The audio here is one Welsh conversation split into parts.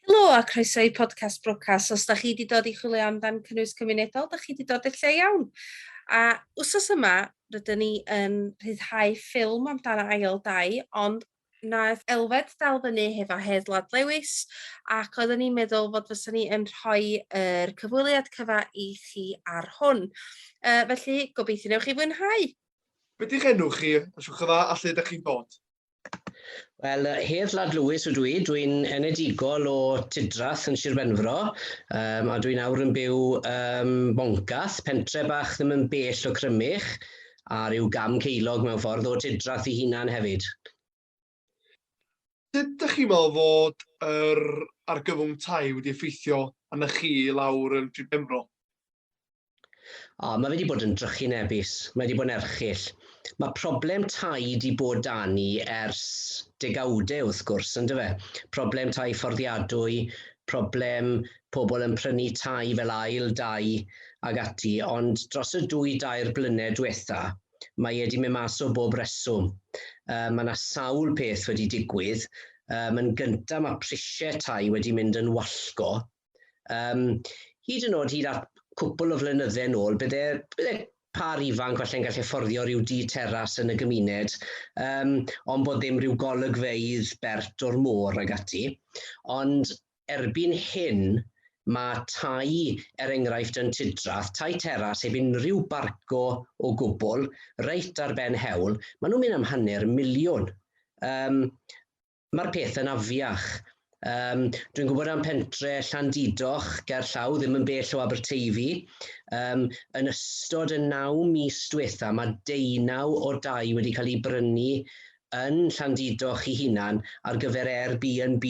Helo a croeso i Podcast Brocas. Os da chi di dod i chwilio amdan cynnwys cymunedol, da chi di dod i'r lle iawn. A wsos yma, rydyn ni yn rhyddhau ffilm amdano ail dau, ond naeth Elfed dal fyny hefo Hedd Lad Lewis ac oeddwn ni'n meddwl fod fysa ni yn rhoi yr cyfweliad cyfa i chi ar hwn. Uh, felly, gobeithio newch chi fwynhau. Be di'ch enw chi? A siwch y dda, a lle ydych chi'n dod? Wel, yy, Hedd Lad Lewis ydw i. Dwi'n enedigol o Tudrath yn Sir Benfro, um, a dwi'n awr yn byw um, Boncath, pentre bach ddim yn bell o Crymych, a rhyw gam ceilog mewn ffordd o Tudrath i hunan hefyd. Sut ydych chi'n meddwl fod yr argyfwng tai wedi effeithio arna chi lawr yn Sir Benfro? O, mae fe wedi bod yn drychu'n ebus, mae wedi bod yn erchyll. Mae problem tai wedi bod da ni ers degawdau wrth gwrs, yn dyfe? Problem tai fforddiadwy, problem pobl yn prynu tai fel ail dai ag ati, ond dros y dwy dair blynedd diwetha, mae e wedi mynd mas o bob reswm. Uh, mae yna sawl peth wedi digwydd. Um, yn gyntaf mae prisiau tai wedi mynd yn wallgo, Um, hyd yn oed hyd at cwpl o flynydde yn ôl, bydde, bydde par ifanc falle'n gallu fforddio rhyw dŷ teras yn y gymuned, um, ond bod ddim rhyw golygfeydd bert o'r môr ag ati. Ond erbyn hyn, mae tai, er enghraifft yn Tudrath, tai teras heb unrhyw barco o gwbl, reit ar ben hewl, maen nhw'n mynd am hanner miliwn. Um, Mae'r pethau'n afiach. Um, dwi'n gwybod am pentre Llandidoch ger llaw, ddim yn bell o Aberteifi. Um, yn ystod y naw mis diwetha, mae deunaw o dau wedi cael ei brynu yn Llandidoch i hunan ar gyfer Airbnb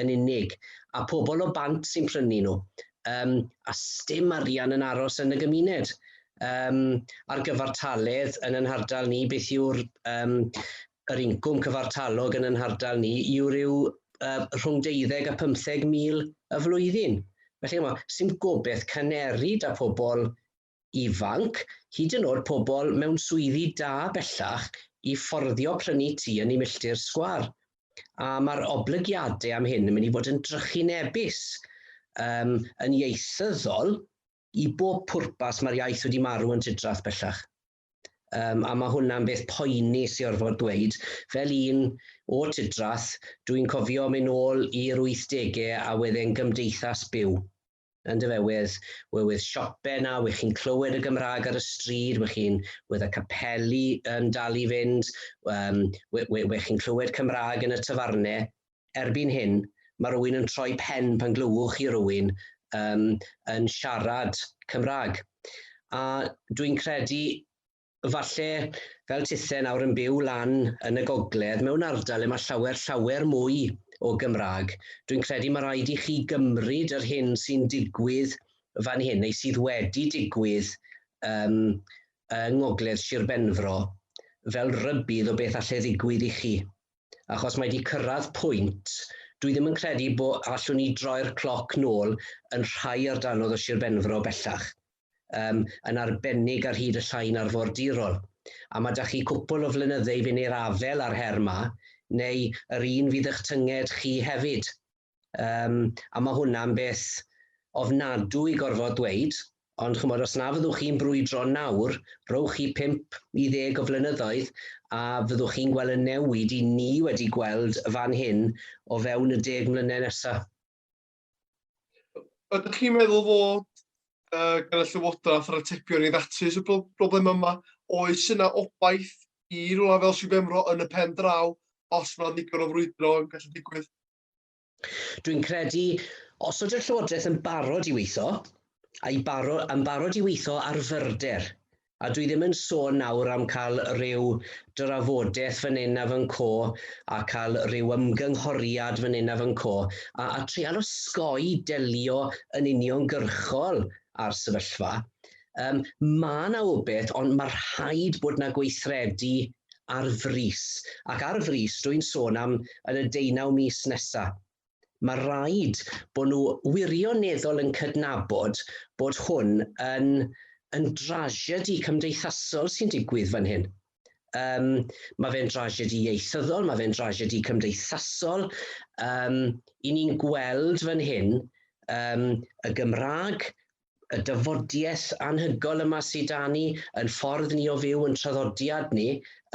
yn unig, a pobl o bant sy'n prynu nhw. Um, a stym arian yn aros yn y gymuned. Um, ar gyfartaledd yn yn hardal ni, beth yw'r um, Yr incwm cyfartalog yn y nhardal ni yw ryw rhwng deuddeg a phymtheg mil y flwyddyn. Felly ch'mod, sdim gobeth caneri 'da pobl ifanc, hyd yn o'd pobl mewn swyddi da bellach, i fforddio prynu tŷ yn eu milltir sgwâr. A ma'r oblygiade am hyn yn mynd i fod yn drychinebus, yym yn ieithyddol, i bob pwrpas ma'r iaith wedi marw yn Tudrath bellach. Um, a mae hwnna'n beth poeni sy'n orfod dweud. Fel un o Tidrath, dwi'n cofio mynd ôl i'r 80au a wedyn gymdeithas byw. Yn dyfewydd, we wedd siope na, we chi'n clywed y Gymraeg ar y stryd, we chi'n wedd y capeli yn dal i fynd, um, we, we, we chi'n clywed Cymraeg yn y tafarnau. erbyn hyn, mae rhywun yn troi pen pan glywwch chi rhywun um, yn siarad Cymraeg. A dwi'n credu, falle, fel tithe nawr yn byw lan yn y gogledd, mewn ardal le mae llawer, llawer mwy o Gymraeg, dwi'n credu mae rhaid i chi gymryd yr hyn sy'n digwydd fan hyn, neu sydd wedi digwydd um, yng Ngogledd Sir Benfro, fel rybydd o beth allai ddigwydd i chi. achos mae 'di cyrraedd pwynt, dwi ddim yn credu bo allwn ni droi'r cloc nôl yn rhai ardalodd o Sir Benfro bellach, um, yn arbennig ar hyd y llain arfordirol. A mae 'da chi cwpl o flynyddeu fyn i'r afel a'r her 'ma, neu yr un fydd ych tynged chi hefyd. Um, a mae hwnna'n beth ofnadw i gorfod dweud, ond chymod, os na fyddwch chi'n brwydro nawr, rowch chi 5 i ddeg o flynyddoedd a fyddwch chi'n gweld y newid i ni wedi gweld fan hyn o fewn y deg mlynedd nesaf. Ydych chi'n meddwl fod uh, gan y Llywodraeth yr atebion i ddatrys y broblem yma, oes yna obaith i rhywle fel Sir Benfro yn y pen draw os mae'n ddigon o frwydro yn gallu digwydd? Dwi'n credu, os ydy'r Llywodraeth yn barod i weithio, a'i baro, yn barod i weithio ar fyrder, a dwi ddim yn sôn nawr am cael rhyw drafodaeth fan hyn a fan co a cael rhyw ymgynghoriad fan hyn a fan co a, a treal osgoi delio yn uniongyrchol â'r sefyllfa, Um, mae yna obeth, ond mae rhaid bod yna gweithredu ar frys. Ac ar frys, dwi'n sôn am yn y deunaw mis nesaf. Mae rhaid bod nhw wirioneddol yn cydnabod bod hwn yn, yn drasiedi cymdeithasol sy'n digwydd fan hyn. Um, mae fe'n drasiedi ieithyddol, mae fe'n drasiedi cymdeithasol. Um, I ni'n gweld fan hyn um, y Gymraeg y dafodiaith anhygoel yma sydd 'da ni, yn ffordd ni o fyw, yn traddodiad ni,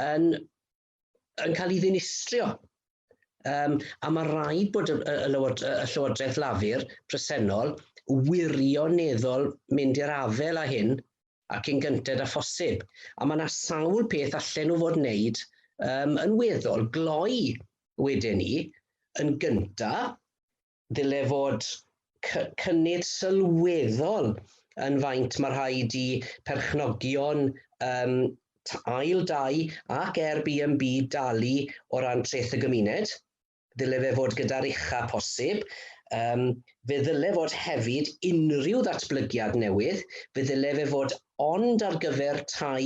yn, yn cael ei ddinistrio. Um, a mae rhaid bod y, y, lywod, y Llywodraeth Lafur presennol wirioneddol mynd i'r afel â hyn ac yn gynted â phosib. A mae yna sawl peth allan nhw fod wneud um, yn weddol gloi wedyn ni, yn gyntaf, ddyle fod cynnydd sylweddol yn faint mae rhaid i perchnogion um, ail dau ac Airbnb dalu o ran treth y gymuned. Ddyle fe fod gyda'r ucha posib. Um, fe ddyle fod hefyd unrhyw ddatblygiad newydd, fe ddyle fe fod ond ar gyfer tai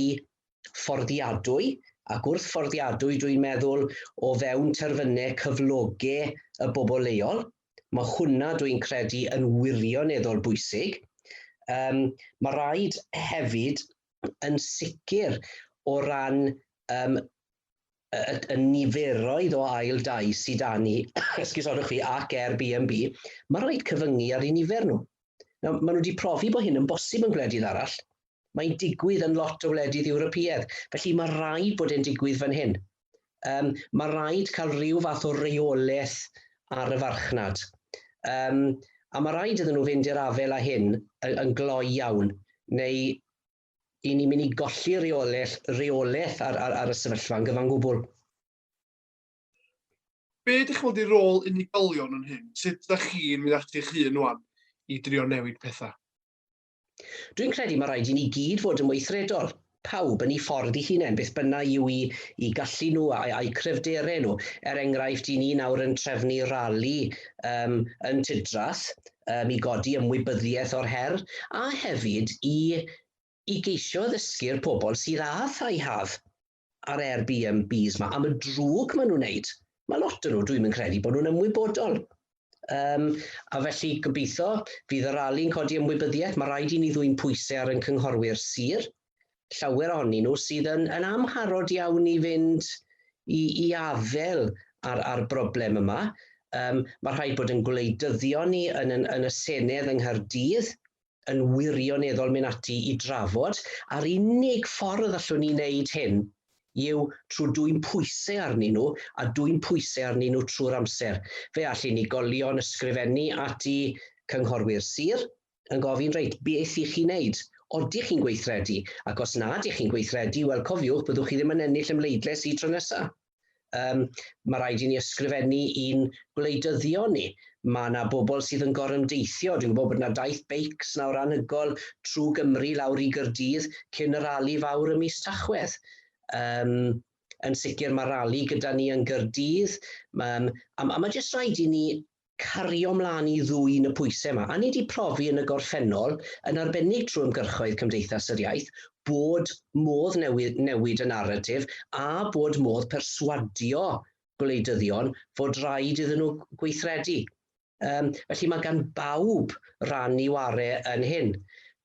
fforddiadwy a gwrthfforddiadwy dwi'n meddwl o fewn terfynau cyfloge y bobl leol. Mae hwnna dwi'n credu yn wirioneddol bwysig. Um, mae rhaid hefyd yn sicr o ran um, y, y, y niferoedd o ail dai sydd da ni, esgusodwch chi, ac Airbnb, mae'n rhaid cyfyngu ar ei nifer nhw. Nawr, maen nhw wedi profi bod hyn yn bosib yn gwledydd arall. Mae'n digwydd yn lot o wledydd Ewropeaidd, felly mae rhaid bod e'n digwydd fan hyn. Um, mae rhaid cael rhyw fath o reolaeth ar y farchnad. Um, a mae rhaid iddyn nhw fynd i'r afel â hyn yn, yn gloi iawn, neu i ni'n mynd i golli reolaeth, reolaeth ar, ar, ar y sefyllfa yn gyfan gwbl. Be ydych chi'n ei rôl unigolion yn hyn? Sut ydych chi'n mynd ati eich hun wan i drio newid pethau? Dwi'n credu mae rhaid i ni gyd fod yn weithredol, pawb yn ei ffordd ei hunain, beth bynnag yw i, i gallu nhw a'u, a'u cryfderau nhw. Er enghraifft, i ni nawr yn trefnu rali um, yn Tidrath, um, i godi ymwybyddiaeth o'r her, a hefyd i, i geisio addysgu'r pobl sydd â thai haf a'r Airbnbs yma, am y drwg maen nhw'n wneud. Mae lot yn nhw, dwi'n mynd credu, bod nhw'n ymwybodol. Um, a felly gobeithio fydd y rali'n codi ymwybyddiaeth, mae rhaid i ni ddwy'n pwysau ar yn cynghorwyr sir, llawer ohonyn nhw sydd yn, yn amharod iawn i fynd i, i afael ar, ar broblem yma. Um, mae rhaid bod yn gwleidyddion ni yn, yn, yn y Senedd yng Nghaerdydd yn wirioneddol mynd ati i drafod, a'r unig ffordd allwn ni wneud hyn yw trwy dwy'n pwysau arnyn nhw a dwy'n pwysau arnyn nhw trwy'r amser. Fe all unigolion ysgrifennu ati cynghorwyr sir, yn gofyn reit, beth i chi wneud? Odych chi'n gweithredu? Ac os na ydych chi'n gweithredu, wel cofiwch, byddwch chi ddim yn ennill y mleidles i tro nesaf. Um, mae rhaid i ni ysgrifennu i'n gwleidyddion ni. Mae yna bobl sydd yn gorymdeithio. Dwi'n gwybod bod yna daith beics nawr anhygol trwy Gymru lawr i Gyrdydd cyn y rali fawr ym mis Tachwedd. Um, yn sicr mae rali gyda ni yn Gyrdydd, um, a, a mae jyst rhaid i ni cario mlaen i ddwyn y pwysau yma. A ni wedi profi yn y gorffennol, yn arbennig trwy ymgyrchoedd Cymdeithas yr Iaith, bod modd newid, newid y naratif a bod modd perswadio gwleidyddion fod rhaid iddyn nhw gweithredu. Um, felly mae gan bawb ran i ware yn hyn.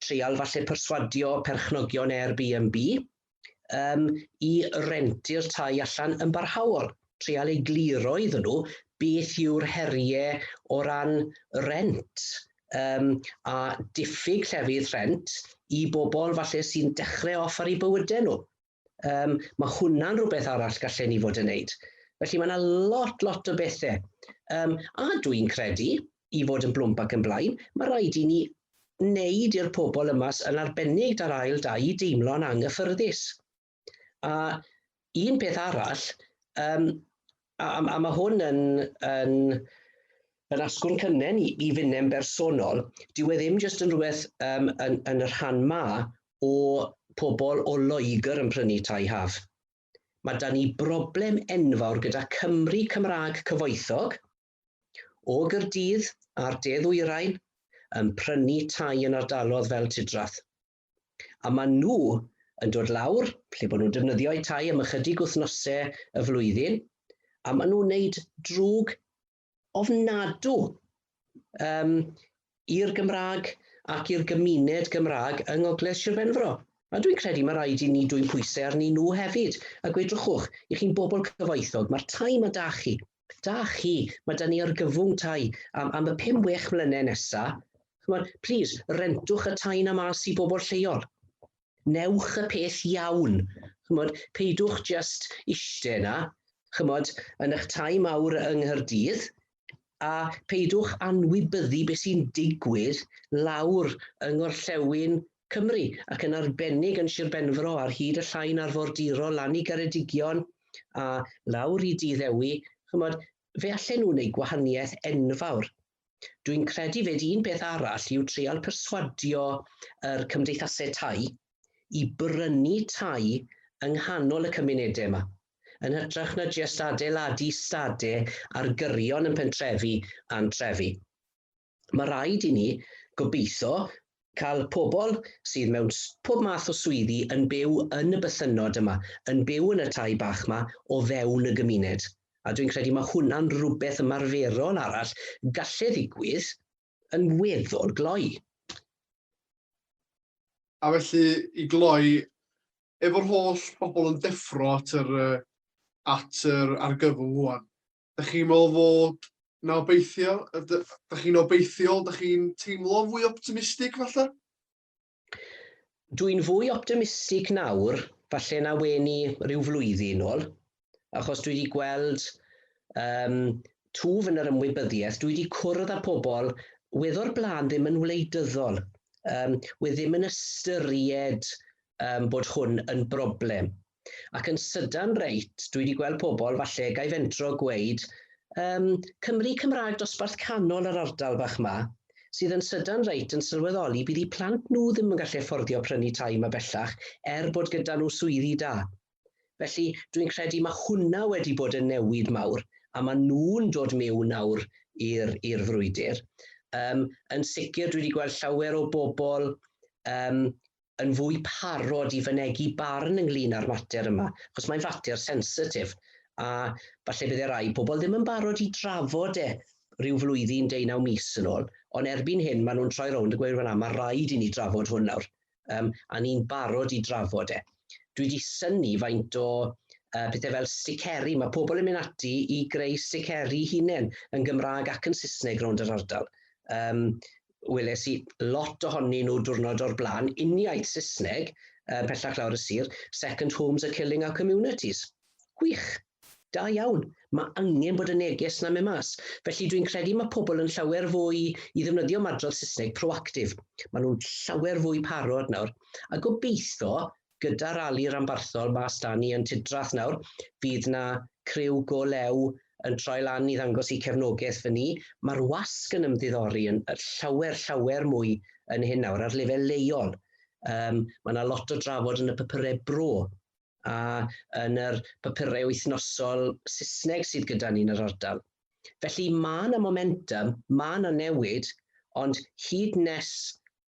Treial falle perswadio perchnogion Airbnb, um, i rentu'r tai allan yn barhaol, treal ei gliro iddyn nhw beth yw'r heriau o ran rent um, a diffyg llefydd rent i bobl falle sy'n dechrau off ar ei bywydau nhw. Um, mae hwnna'n rhywbeth arall gallen ni fod yn neud. Felly mae yna lot, lot o bethau. Um, a dwi'n credu, i fod yn blwmp ac yn blaen, mae rhaid i ni wneud i'r pobl yma, yn arbennig da'r ail dai, i deimlo'n anghyffyrddus. A un peth arall, um, a, a, a mae hwn yn, yn, yn asgwrn cynnen i, i fynem bersonol, dyw e ddim jyst yn rhywbeth um, yn, yn y rhan ma o pobl o Loegr yn prynu tai haf. Mae da ni broblem enfawr gyda Cymru Cymraeg cyfoethog, O Gaerdydd a'r de ddwyrain yn prynu tai yn ardalodd fel Tudrath. A maen nhw yn dod lawr, lle bod nhw'n defnyddio eu tai am ychydig wythnose y flwyddyn, a maen nhw'n wneud drwg ofnadw um, i'r Gymraeg ac i'r gymuned Gymraeg yng Ngogledd Sir Benfro. A dwi'n credu mae rhaid i ni dwy'n pwysau arnyn nhw hefyd, a gwedrychwch, i chi'n bobl cyfoethog, mae'r tai mae da chi, da chi, mae da ni argyfwng tai am, am y pum wech mlynedd nesaf, chymod, plis, rentwch y tai na mas i bobl lleol. Newch y peth iawn, chymod, peidwch just ishte yna, chymod, yn eich tai mawr yng Nghyrdydd, a peidwch anwybyddu beth sy'n digwydd lawr yng Ngorllewin Cymru, ac yn arbennig yn Sir Benfro ar hyd y Llain Arfordirol lan i Geredigion a lawr i Dŷ Ddewi, ch'mod, fe allen nhw wneud gwahaniaeth enfawr. Dwi'n credu 'fyd un peth arall yw treial perswadio yr cymdeithasau tai i brynu tai yng nghanol y cymunedau yma, yn hytrach na jest adeiladu stade ar gyrion yn pentrefi a'n trefi. Mae rhaid i ni, gobeithio, cael pobl sydd mewn pob math o swyddi yn byw yn y bythynnod yma, yn byw yn y tai bach yma o fewn y gymuned, a dwi'n credu mae hwnna'n rhywbeth ymarferol arall gallai ddigwydd yn weddol gloi. A felly, i gloi, efo'r holl bobl yn deffro at yr, at yr argyfwng rwan, Dach chi'n meddwl fod 'na obeithio? Dach chi'n obeithiol? Dach chi'n teimlo fwy optimistig falle? Dwi'n fwy optimistig nawr falle na wen i rhyw flwyddyn ôl, achos dwi wedi gweld um, twf yn yr ymwybyddiaeth, dwi wedi cwrdd â pobl weddor blaen ddim yn wleidyddol, um, we ddim yn ystyried um, bod hwn yn broblem. Ac yn sydan reit, dwi 'di gweld pobl, falle gai fentro gweud, yym, Cymry Cymraeg dosbarth canol yr ardal bach 'ma, sydd yn sydan reit yn sylweddoli bydd 'u plant nhw ddim yn gallu fforddio prynu tai 'ma bellach er bod gyda nhw swyddi da. Felly, dwi'n credu ma' hwnna wedi bod yn newid mawr, a ma' nhw'n dod miwn nawr i'r i'r frwydr. Yym, yn sicr dwi 'di gweld llawer o bobl, yym, yn fwy parod i fynegi barn ynglŷn â'r mater yma, achos mae'n fater sensitif, a falle bydde rai pobl ddim yn barod i drafod e rhyw flwyddyn, deunaw mis yn ôl, ond erbyn hyn maen nhw'n troi rownd a gweud, wel na, mae rhaid i ni drafod hwn nawr, um, a ni'n barod i drafod e. Dwi wedi syni faint o uh, pethau fel sticeri, mae pobl yn mynd ati i greu sticeri hunain yn Gymraeg ac yn Saesneg rownd yr ardal. Um, weles i lot ohonyn nhw diwrnod o'r blaen, uniaith Saesneg, uh, pellach lawr y sir, second homes are killing our communities. Gwych, da iawn, mae angen bod y neges yna mewn mas. Felly dwi'n credu mae pobl yn llawer fwy i ddefnyddio ymadrodd Saesneg proactif. Maen nhw'n llawer fwy parod nawr. A gobeithio, Gyda rali ranbarthol mas 'da ni yn Tudrath nawr, fydd 'na criw go lew yn troi lan i ddangos eu cefnogaeth fy ni. Mae'r wasg yn ymddiddori yn llawer, llawer mwy yn hyn nawr, ar lefel leol. Um, mae yna lot o drafod yn y papurau bro a yn yr papurau wythnosol Saesneg sydd gyda ni yn yr ardal. Felly mae yna momentum, mae yna newid, ond hyd nes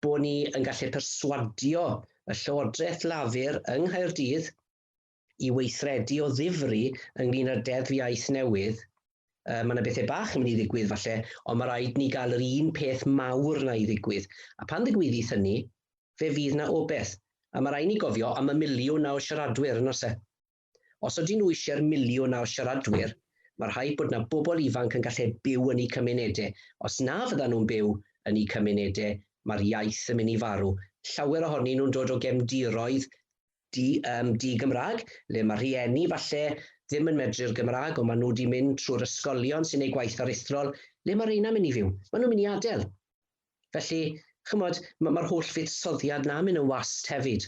bod ni yn gallu perswadio y Llywodraeth Lafur yng Nghaerdydd i weithredu o ddifri ynglyn â'r Deddf Iaith newydd, uh, mae yna bethau bach yn mynd i ddigwydd falle, ond mae rhaid ni gael yr un peth mawr na i ddigwydd. A pan ddigwyddith hynny, fe fydd na obeth. A mae rhaid ni gofio am y miliwn na o siaradwyr yn ose. Os ydyn nhw eisiau'r miliwn ar siaradwyr, mae rhaid bod yna bobl ifanc yn gallu byw yn eu cymunedau. Os na fyddan nhw'n byw yn eu cymunedau, mae'r iaith yn mynd i farw. Llawer ohonyn nhw'n dod o gefndiroedd di, um, di-Gymraeg, le mae rhieni falle ddim yn medru'r Gymraeg, ond maen nhw wedi mynd trwy'r ysgolion sy'n ei gwaith aruthrol, le mae reina mynd i fyw? Maen nhw'n mynd i adael. Felly, chymod, mae'r holl fuddsoddiad na'n mynd yn wast hefyd.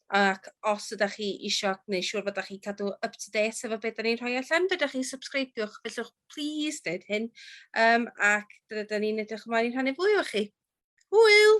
ac os ydych chi eisiau gwneud siŵr fod chi'n cadw up to date efo beth da ni'n rhoi allan, fedrwch chi subscribiwch, fellwch please dweud hyn, um, ac dyna da ni'n edrych ymlaen i rhannu fwy o chi. Hwyl!